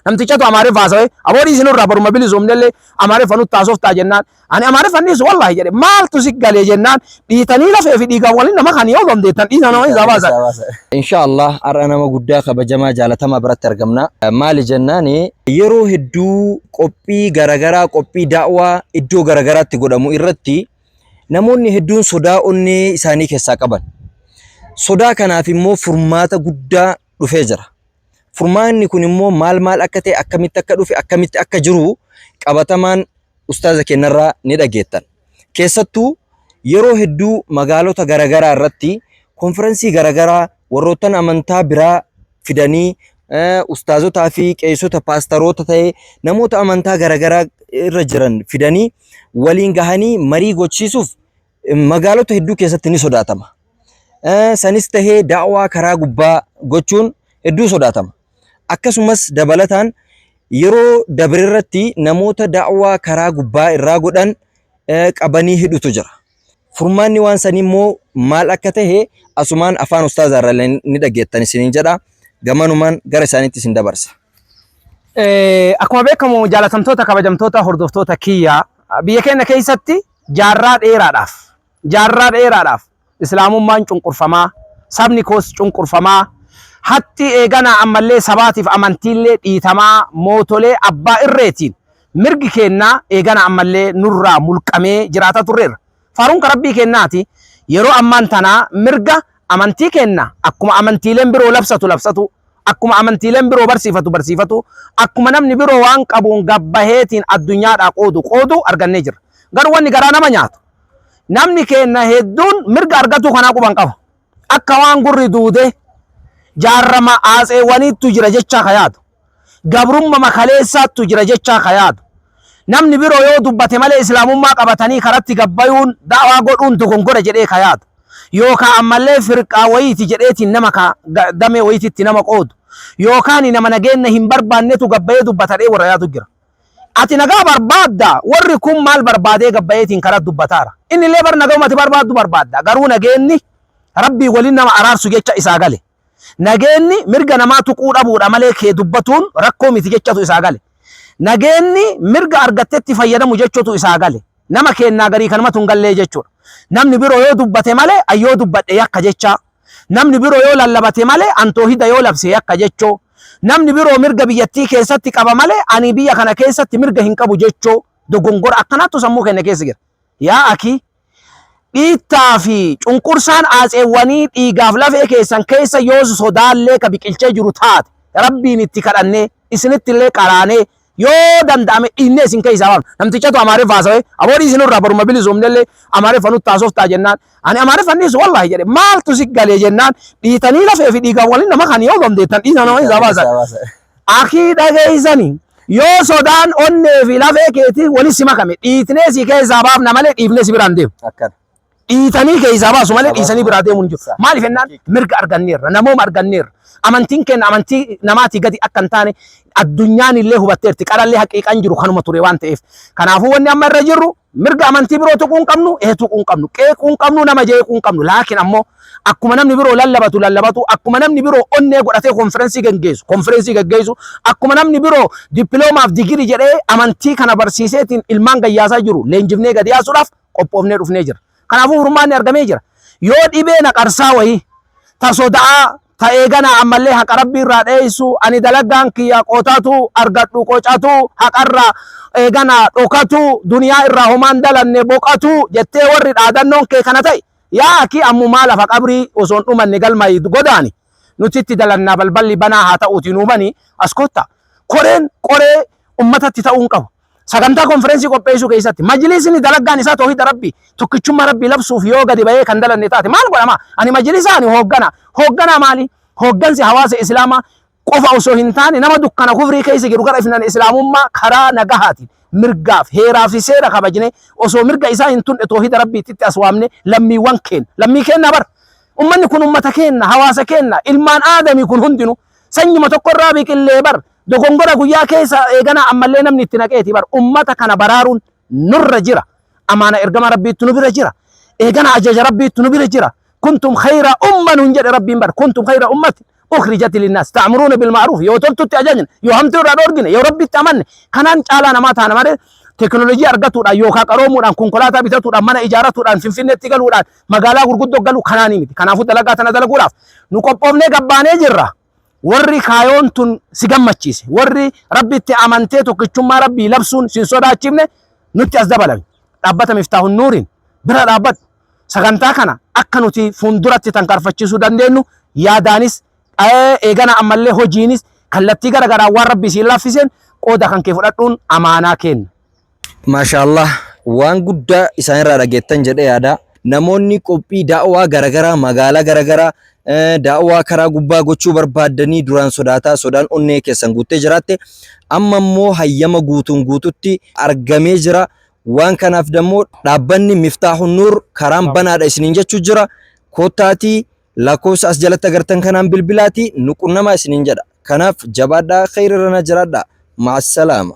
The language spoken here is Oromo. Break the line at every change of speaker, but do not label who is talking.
Namtichatu Amaariffa haasawee aboo dhiisi nurraa baruma bilisoomnellee Amaariffa nutti haasoftaa jennaan ani Amaariffa dhiisu wallaahi jedhe maaltu si galee jennaan dhiitanii lafee fi dhiigaan waliin nama kan yoo dandeettan dhiisa nama isaa baasan. Insha Allah
har'a nama guddaa kabajamaa jaalatamaa biratti argamna. Maali jennaani yeroo hedduu qophii garagaraa qophii daawaa iddoo garagaraatti godhamu irratti namoonni hedduun sodaa onnee isaanii keessaa qaban. Sodaa kanaaf immoo furmaata guddaa dhufee jira. Furmaanni kun immoo maal maal akka ta'e, akkamitti akka dhufe, akkamitti akka jiru qabatamaan ustaaza kennarraa ni dhageettan. Keessattuu yeroo hedduu magaalota garaagaraa irratti konfiransii garaagaraa warroottan amantaa biraa fidanii eh, ustaazotaa fi qeessota paastaroota ta'e namoota amantaa garaagaraa irra jiran fidanii waliin gahanii marii gochiisuuf magaalota hedduu keessatti ni sodaatama. Eh, Sanis tahee daawaa karaa gubbaa gochuun hedduu sodaatama. Akkasumas dabalataan yeroo dabre irratti namoota daawaa karaa gubbaa irraa godhan eh, qabanii hidhutu jira. Furmaanni waan sanii immoo maal akka tahe asumaan afaan ustaazaa irraa illee ni dhageettan isiniin jedha. Gamanumaan gara isaaniitti isin dabarsa. Eh,
akkuma beekamu jaalatamtoota kabajamtoota hordoftoota kiyya biyya keenya keessatti Jaarraa dheeraadhaaf, jaarraa dheeraadhaaf Islaamummaan cunqurfamaa, sabni koos cunqurfamaa, hattii eeganaa ammallee sabaatiif amantiillee dhiitamaa mootolee abbaa irreetiin mirgi keenna eeganaa ammallee nurraa mulqamee jiraata turreerra. Faaruun ka Rabbii keennaati yeroo ammaan tanaa mirga amantii keenna akkuma amantiileen biroo labsatu labsatuu, akkuma amantiileen biroo barsiifatu barsiifatuu, akkuma namni biroo waan qabuun gabbaheetiin addunyaadhaa qoodu qooduu argannee jirra. Garuu wanni garaa nama nyaatu namni keenna hedduun mirga argatuu kanaa quban qabu. Akka waan gurri duudee jaarrama aatseewwaniittu jira jechaa ka yaadu. gabrummama kaleessaattu jira jechaa ka yaadu. Namni biroo yoo dubbate malee Islaamummaa qabatanii karatti gad bayuun da'waa godhuun dogongora jedhee ka yaadu. Yookaa ammallee firqaa wayiiti jedheetiin nama ka damee wayititti nama qoodu. Yookaani nama nageenna hin barbaannetu gad bayee dubbata dhee warra yaadu jira. Ati nagaa barbaaddaa? Warri kun maal barbaadee gad bayeetiin karat dubbataara? Innillee bar nagahumati barbaaddu barbaadda. Garuu nageenni Rabbii waliin nama araarsu jecha isaa gale. Nageenni mirga namaa tuquu dhabuudha malee kee dubbatuun rakkoo miti jechatu isaa gale. Nageenni mirga argattetti fayyadamu jechutu isaa gale. Nama keennaa garii kanumatu hin gallee jechuudha. Namni biroo yoo dubbate malee an yoo dubbadhe yakka jechaa. Namni biroo yoo lallabate malee an toohida yoo labse yakka jechoo. Namni biroo mirga biyyattii keessatti qaba malee ani biyya kana keessatti mirga hin qabu jechoo. Dogongora akkanaattu sammuu keenya keessa jira. Yaa akii! Dhiittaa fi cunqursaan aatseewwanii dhiigaaf lafee keessan keessa yoos sodaallee ka biqilchee jiru taate, Rabbiin itti kadhannee, isinittillee qaraanee, yoo danda'ame dhiinnee isin keessaa baafna. Namtichatu Amaariffa haasawe, aboo dhiisi nurraa baruma bilisoomnellee Amaariffa nutti haasoftaa jennaan, ani Amaariffa hin dhiisu wallaahi jedhe. Maaltu si gale jennaan, dhiitanii lafee fi dhiigaan waliin nama kan yoo dandeettan dhiisa nama keessaa baasa. Akii dhageessani, yoo sodaan onnee fi lafee keetiin wali si makame, dhiitnee si keessaa baafna malee dhiifnee si biraan deemu. Akkana. Dhiitanii keessaa baasu malee Sababa dhiisanii biraa deemuun hin jiru. isaa. Maaliif jennaan Haqiiqa. mirga arganneerra, namooma arganneerra. Amantiin keenya amantii namaatii gadi akka hin taane addunyaan illee hubatteerti. Qarallee haqiiqaan jiru kanuma ture waan ta'eef. Kanaafuu wanni amma irra jirru Mirga amantii biroo tuquu hin qabnu, ee tuquu hin qabnu, qeequu hin qabnu, nama jeequu hin qabnu. Laakiin ammoo akkuma namni biroo lallabatu lallabatu, akkuma namni biroo onnee godhatee konfirensii gaggeessu, konfirensii gaggeessu, akkuma namni biroo dippiloomaaf digirii jedhee amantii kana barsiiseetiin ilmaan gayyaasaa jiru leenjifnee gadi yaasuudhaaf qophoofnee dhufnee jirra. Kanaafuu furmaanni argamee jira. Yoo dhibee na qarsaa wayii, ta soda'aa, ta eeganaa ammallee haqa Rabbii irraa dheessu, ani dalagaan kiyya qotatu, argadhu qocatu, haqa irraa eeganaa dhokatu, duniyaa irraa homaa hin dalanne boqatu jettee warri dhaadannoon kee kana ta'e, yaa akii ammumaa lafa qabrii osoo hin dhumanne galmaa'i godaani. Nuti itti dalannaa balballi banaa haa ta'uutii nuu bani as kottaa. Koreen qoree ummatatti ta'uu hin qabu. Sagantaa konferensii qopheessuu keessatti majlisni dalaggaan isaa toohida rabbii tokkichummaa rabbii labsuuf yoo gadi bahee kan dalanne taate maal godhama? Ani majlisaa ani hooggana. Hoogganaa maali? Hooggansi hawaasa islaamaa qofa osoo hin taane nama dukkana kufrii keessa jiru gara ifnana islaamummaa karaa nagahaatiin mirgaaf heeraa fi seera kabajne osoo mirga isaa hin tunne toohida rabbiitti as waamne lammiiwwan keenya lammii keenya bar ummanni kun ummata keenya hawaasa keenya ilmaan aadamii kun hundinuu Sanyuma tokkorraa biqillee bar dogongora guyyaa keessa eeganaa ammallee namni itti naqeeti bar ummata kana baraaruun nurra jira. Amaana ergama rabbiittu nu bira jira. Eegana ajaja rabbiittu nu bira jira. Kuntum khayra umma nun jedhe rabbiin bar kuntum khayra ummati ukhrijati linnas ta'muruuna bil ma'ruf yoo toltutti ajajne yoo hamtuu irraa dhoorgine yoo rabbitti amanne kanaan caalaa namaa taana malee teknolojii argatuudhaan yookaan qaroomuudhaan konkolaataa bitatuudhaan mana ijaaratuudhaan finfinneetti galuudhaan magaalaa gurguddoo galu kanaanii miti. Kanaafuu dalagaa tana dalaguudhaaf nu qophoofnee gabbaanee jirra. Warri kaayoon tun si gammachiise, warri rabbitti amantee tokkichummaa rabbii labsuun sin sodaachifne nutti as dabalame. Dhaabbata Miftaahun Nuuriin bira dhaabbadhu. Sagantaa kana akka nuti fuulduratti tankaarfachiisuu dandeenyu yaadaanis eegana ammallee hojiinis kallattii gara garaan waan rabbii siin laaffiseen qooda kan kee fudhadhuun amaanaa kenna. Maashaallaah
waan guddaa isaanirraa dhageettan jedhee yaada. Namoonni qophii da'waa garagaraa magaalaa garagaraa eh, da'waa karaa gubbaa gochuu barbaaddanii duraan sodaataa sodaan onnee keessan guuttee jiraatte amma immoo hayyama guutuun guututti argamee jira. Waan kanaaf dammoo dhaabbanni Miftaahun Nuur karaan banaadha isiniin jechuu jira. Kottaatii lakkoofsa as jalatti agartan kanaan bilbilaatii nu qunnamaa isiniin jedha. Kanaaf jabaadhaa kheyrirrana jiraadhaa. Ma'assalaama.